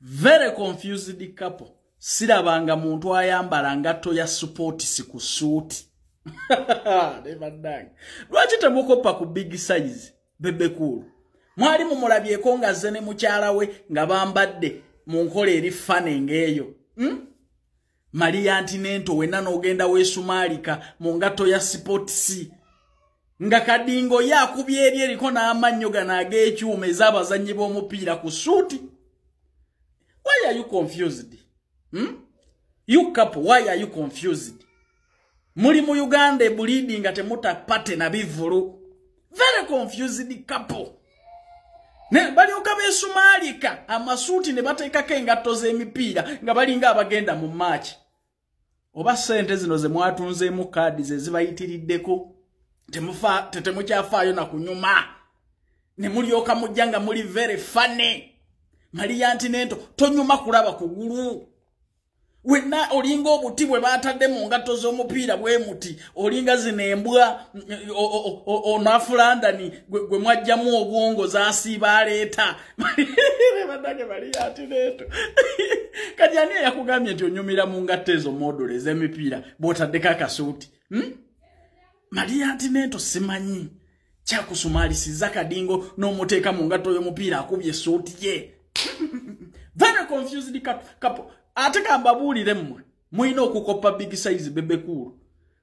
very confused couple sirabanga muntu ayambala ngatto ya supports ku suuti lwaki temukoppa ku big size bebekuulu mwali mumulabyeko ngazze ne mukyala we nga bambadde mu nkola eri fane ng'eyo hmm? maliya nti nento wenna n'ogenda weesumaalika mu ngatto ya sipotisi nga kadingo ye akubye eri eriko n'amannyo gano ag'ekyuma ez'abazannyi b'omupiira ku suuti why are you confused hmm? you couple why are you confused muli mu uganda ebulidi nga temuta pate na bivulu very confused couple ne balyoka besumaalika amasuuti ne bateekako engatto z'emipiira nga balinga abagenda mu maaki oba ssente zino ze mwatunzeemu kaadi ze zibayitiriddeko temukyafaayo na kunyuma ne mulyoka mujja nga muli very funny maliya nti nento tonyuma kulaba kugulu wenna olinga obuti bwe baatadde mu ngatto z'omupiira bwe muti olinga zino embwa onafulandani gwe mwajjamu obwongo zasiiba aleeta banange baliyaatireeto kati ani eyakugambye nti onyumira mu ngatto ezo modulo ez'emipiira bw'otaddeko akasuuti hmm? maliyaatineeto simanyi kyakusumaalisiza kadingo n'omuteeka mu ngatto y'omupiira akubye esuuti ye very confused couple ate kambabuulire mmwe mulina okukoppa big size bebekuulu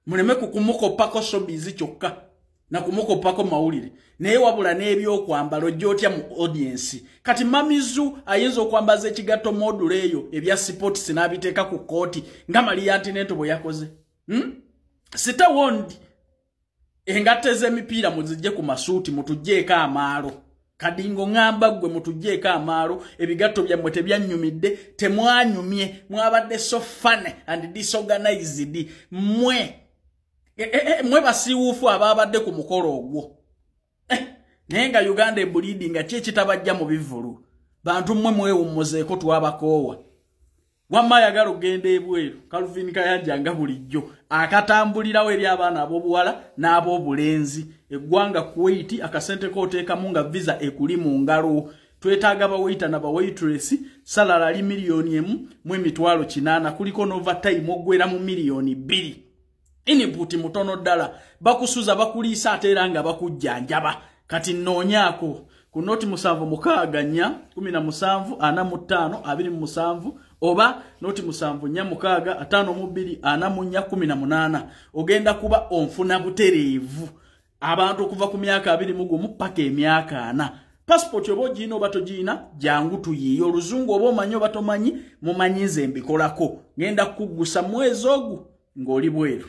muleme ku kumukoppako sobizi kyokka na kumukoppako mawulire naye wabula n'ebyokwambala ojja otya mu audiensi kati mamizu ayinza okwambaza ekigatto module eyo ebya sipots n'abiteeka ku kkooti nga maliyantinento bwe yakoze hmm? sitawondi engatta ez'emipiira muzijje ku masuuti mutugyeeko amaalo kadingo ŋamba ggwe mutugyeeko amaalo ebigatto byammwe tebyannyumidde temwanyumye mwabadde so fane and disorganized mwe e, e, e, mwe basiiwuufu abaabadde ku mukolo ogwo eh, naye nga uganda ebulidi nga ki ekitabajja mu bivulu bantu mmwe mwewummuzeeko twabakoowa wamma ayagala okugenda ebweru kalvin kayanja nga bulijjo akatambulirawo eri abaana ab'obuwala n'ab'obulenzi eggwanga kuwaiti akasente kooteekamu nga visa ekuli mu ngalo twetaaga bawayita na bawaitress salala ali miliyoni emu mu emitwalo kinaana kuliko novatime oggwera mu miliyoni bbiri input mutono ddala bakusuza bakuliisa ate era nga bakujjanjaba kati nnoonyaako ku noti musanvu mukaaga nnya kumi na musanvu ana mu ttaano abiri mu musanvu oba noti musanvu nnya mukaaga ataano mu bbiri ana mu nnya kumi na munaana ogenda kuba onfuna butereevu abantu okuva ku myaka abiri mu gumu paka emyaka ana passport oba ogiina oba togiina jangu tuyiiye oluzungu oba omanyi oba tomanyi mumanyi nze mbikolako ngenda kukuggusa mwezi ogu ng'oli bweru